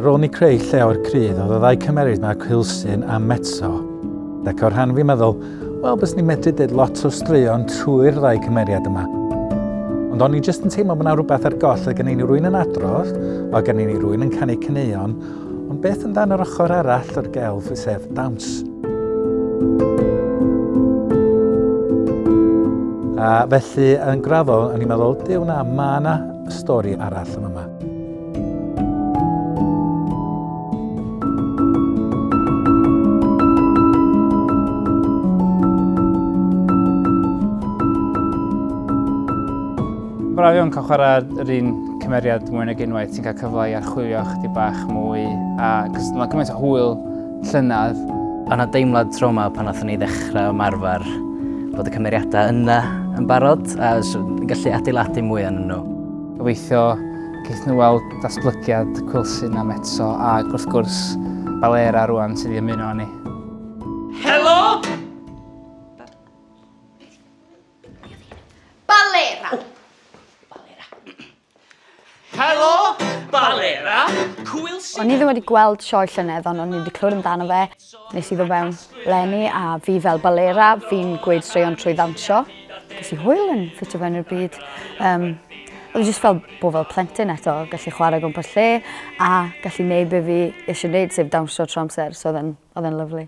Ar ôl ni creu lle o'r crydd, oedd y ddau cymeryd mae Cwilsyn a Metso. Ac o'r rhan fi'n meddwl, wel, bys ni medru dweud lot o straeon trwy'r ddau cymeriad yma. Ond o'n i jyst yn teimlo bod yna rhywbeth ar goll, oedd gen i ni rwy'n yn adrodd, oedd gen i ni rwy'n yn canu cyneuon, Ond beth amdan yr ochr arall o'r gelf, sef dawns? A felly, yn graddol, o'n i'n meddwl, dew na, mae yna stori arall yn yma. Braf iawn cael chwarae yr un cymeriad mwy nag unwaith sy'n cael cyfle i archwilio chydig bach mwy a cos mae gymaint o hwyl llynedd. Ond na deimlad tro yma pan nathon ni ddechrau ymarfer bod y cymeriadau yna yn barod a gallu adeiladu mwy yn nhw. Gobeithio geith nhw weld datblygiad Cwilsyn am eto a wrth gwrs Balera rwan sydd wedi ymuno â ni. Helo! Balera. Oh. Helo, Balera, cwyl sy'n... O'n i ddim wedi gweld sioe llynedd ond o'n i wedi clywed amdano fe. Nes i ddod mewn lenni a fi fel balera, fi'n gweud straeon trwy ddawnsio. Ges i hwyl yn ffitio fewn i'r byd. Um, oedd e jyst fel bod fel plentyn eto, gallu chwarae gwmpas lle a gallu neud be fi eisiau neud, sef dawnsio tro amser, so oedd e'n lyflu.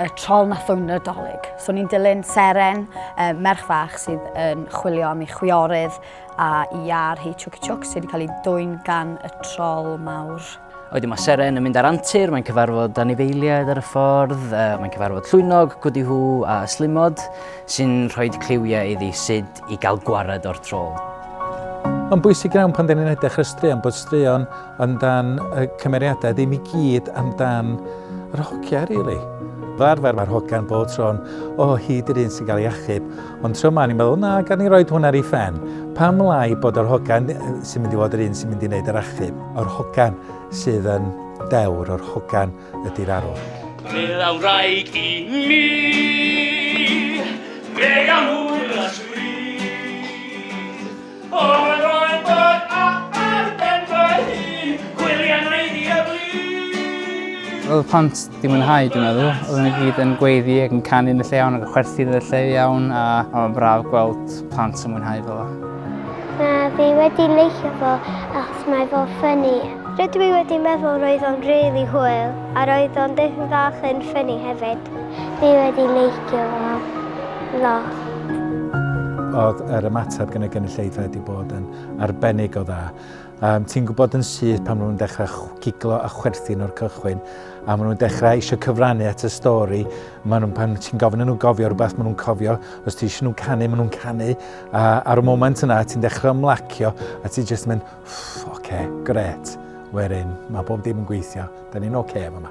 y tro nath o'n Nadolig. So ni'n dilyn Seren, uh, merch fach sydd yn chwilio am ei chwiorydd a i iar hi Chwci Chwc sydd wedi cael ei dwy'n gan y trol mawr. Oeddi mae Seren yn mynd ar antur, mae'n cyfarfod anifeiliaid ar y ffordd, uh, mae'n cyfarfod llwynog, gwdi hw a yslimod, sy'n rhoi cliwiau iddi sut i gael gwared o'r trol. Mae'n bwysig iawn pan dyn ni'n edrych ar y straeon bod straeon Ond dan y cymeriadau ddim i gyd amdan yr hogia rili. Fel arfer mae'r hogan bob tro'n o hyd i'r un sy'n cael ei achub, ond tro ma ni'n meddwl na gan ni roed hwn ar ei phen. Pam lai bod yr hogan sy'n mynd i fod yr un sy'n mynd i wneud yr achub? Yr hogan sydd yn dewr, yr hogan ydy'r arwr. Fel a wraig i mi, fe a hwyr a sgwir. Yr oedd bag a ar ben fy hun, gwyliau'n reithi a flin. Oedd y plant di mwynhau dwi'n meddwl, oedden nhw gyd yn gweiddi ac yn canu yn y lle iawn ac yn chwerthin yn y lle iawn a mae'n braf gweld plant yn mwynhau fel yna. Na, fi wedi leicio fo achos mae fo ffynnu. Rydw i wedi meddwl roedd o'n rili hwyl a roedd o'n dipyn bach yn ffynnu hefyd. Fi wedi leicio fo lot. Oedd yr ymateb gan y gynulleidfa wedi bod yn arbennig o dda. Um, Ti'n gwybod yn syth pan nhw'n dechrau giglo a chwerthin o'r cychwyn a maen nhw'n dechrau eisiau cyfrannu at y stori. Maen nhw, pan ti'n gofyn nhw gofio rhywbeth, maen nhw'n cofio. Os ti eisiau nhw canu, maen nhw'n canu. A ar y moment yna, ti'n dechrau ymlacio a ti'n just mynd, oce, okay, gret, werin, mae bob dim yn gweithio, da ni'n oce okay, yma.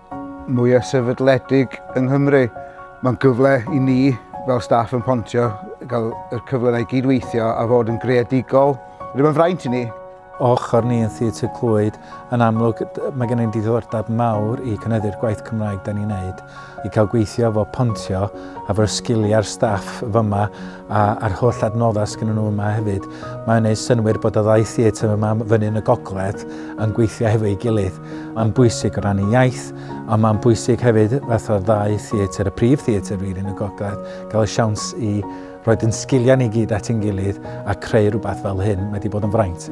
mwya sefydledig yng Nghymru. Mae'n gyfle i ni fel staff yn Pontio gael y cyfle na i gyd-weithio a fod yn greadigol. Rydym yn fraint i ni. Ochr ni yn Theatr Clwyd, yn amlwg mae gen i'n diddordeb mawr i cynyddu'r gwaith Cymraeg da ni'n neud, i cael gweithio fo Pontio a fo'r sgiliau'r staff fyma a, a'r holl adnoddau sgyn nhw yma hefyd. Mae'n ei synwyr bod y ddau theatr yma fyny yn y gogledd yn gweithio hefo'i gilydd. Mae'n bwysig o ran y iaith, ond mae'n bwysig hefyd fath o'r ddau theatr, y prif theatr wir yn y gogledd, gael y siawns i roed yn sgiliau ni gyd at ein gilydd a creu rhywbeth fel hyn, mae wedi bod yn fraint.